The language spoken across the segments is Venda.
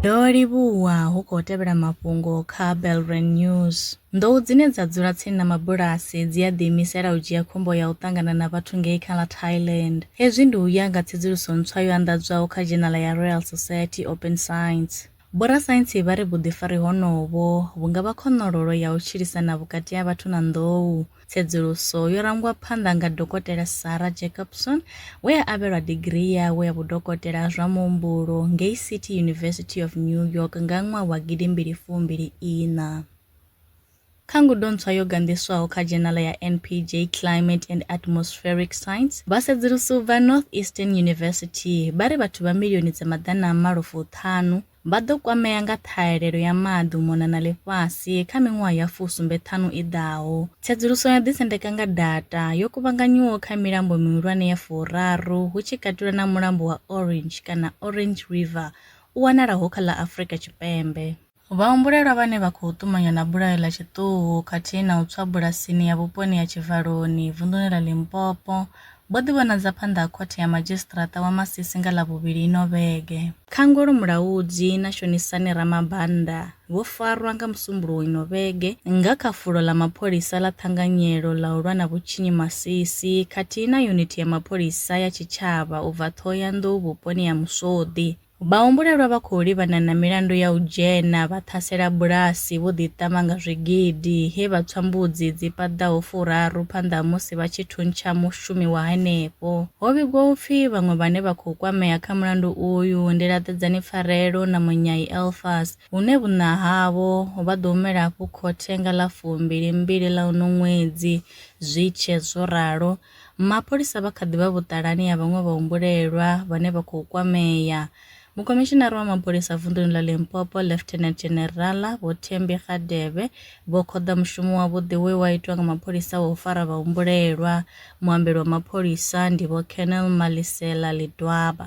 Ndo livhuwa hu khou tevhela mafhungo kha Belren News. Nḓou dzine dza dzula tsini na mabulasi dzi a ḓiimisela u dzhia khombo ya u ṱangana na vhathu ngei kha ḽa Thailand. Hezwi ndi u ya nga tsedzuluso ntswa yo anḓadzwaho kha dzhenala ya Royal Society Open Science. Vhorasaintsi vha ri vhuḓifari honovho vhu nga vha khonololo ya u tshilisana vhukati ha vhathu na nḓou. Tsedzuluso yo rangwa phanḓa nga Dokotela Sarah Jacobson we a avhelwa digirii yawe ya vhudokotela ha zwa muhumbulo ngei City University of New York nga ṅwaha wa gidimbili fumbili iṋa. Kha ngudo ntswa yo ganḓiswaho kha dzhenala ya NPJ Climate and Atmospheric Science, vhasedzulusi u bva Northeastern University vha ri vhathu vha milioni dza maḓana a malo fuṱhanu vha ḓo kwamea nga ṱhahelelo ya maḓi u mona na ḽifhasi kha miṅwaha ya fusumbe ṱhanu i ḓaho. Tsedzuluso yo ḓisendeka nga data yo kuvhanganyiwaho kha milambo mihulwane ya furaru hu tshi katelwa na mulambo wa Orange kana Orange River u wanalaho kha ḽa Afrika Tshipembe. Vhahumbulelwa vhane vha khou ṱumanywa na bulayo ḽa tshiṱuhu khathihi na u tswa bulasini ya vhuponi ya Tshivaloni, vunḓuni ḽa Limpopo, vho ḓivhonadza phanḓa ha Khothe ya Madzhisiṱiraṱa wa Masisi nga Ḽavhuvhili ino vhege. Khangolo Mulaudzi na Shonisani Ramabanda vho farwa nga Musumbuluwo ino vhege nga kha fulo ḽa mapholisa ḽa Ṱhanganyelo ḽa u lwa na vhutshinyi Masisi khathihi na yunithi ya mapholisa ya tshitshavha u bva Ṱhohoyanḓou vhuponi ha Muswoḓi. Vhahumbulelwa vha khou livhana na milandu ya u dzhena vha ṱhasela bulasi vho ḓiṱama nga zwigidi he vha tswa mbudzi dzi paḓaho furaru phanḓa ha musi vha tshi thuntsha mushumi wa henefho. Ho vhigwa u pfi vhaṅwe vhane vha khou kwamea kha mulandu uyu ndi Laṱedzani Pfarelo na Munyai Elfas hune vhuṋa havho vha ḓo humela afho khothe nga ḽa fumbili mbili ḽa uno ṅwedzi zwi tshe zwo ralo Mapholisa vha kha ḓi vha vhuṱalani ha vhaṅwe vhahumbulelwa vhane vha khou kwamea. Mukhomishinara wa mapholisa vunḓuni ḽa Limpopo, Lieutenant General Vho Thembi Radebe, vho khoḓa mushumo wavhuḓi we wa itwa nga mapholisa wa u fara vhahumbulelwa. Muambeli wa mapholisa ndi Vho Colonel Malisela Lidwaba.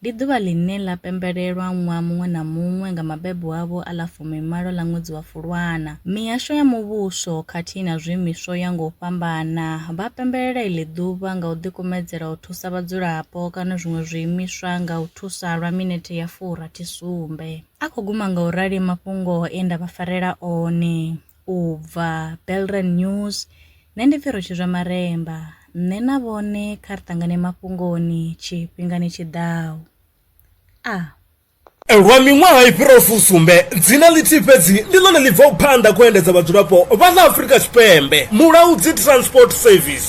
Ndi ḓuvha ḽine ḽa pembelelwa ṅwaha muṅwe na muṅwe nga mabebo avho a ḽa fumimalo ḽa ṅwedzi wa Fulwana. Mihasho ya muvhuso khathihi na zwiimiswa u ya nga u fhambana vha pembelela iḽi ḓuvha nga u ḓikumedzela u thusa vhadzulapo kana zwiṅwe zwiimiswa nga u thusa lwa minethe ya furathi sumbe. A khou guma nga u rali mafhungo e nda vha farela one. u bva Belrand News, Nṋe ndi pfi Rutshizwa Maremba, nṋe na vhone kha ri ṱangane mafhungoni tshifhingani tshi ḓaho. A. Lwa miṅwaha i fhiraho fusumbe, dzina ḽithihi fhedzi ndi ḽone ḽi bvaho phanḓa kha u endedza vhadzulapo vha ḽa Afrika Tshipembe, Mulaudzi Transport Service.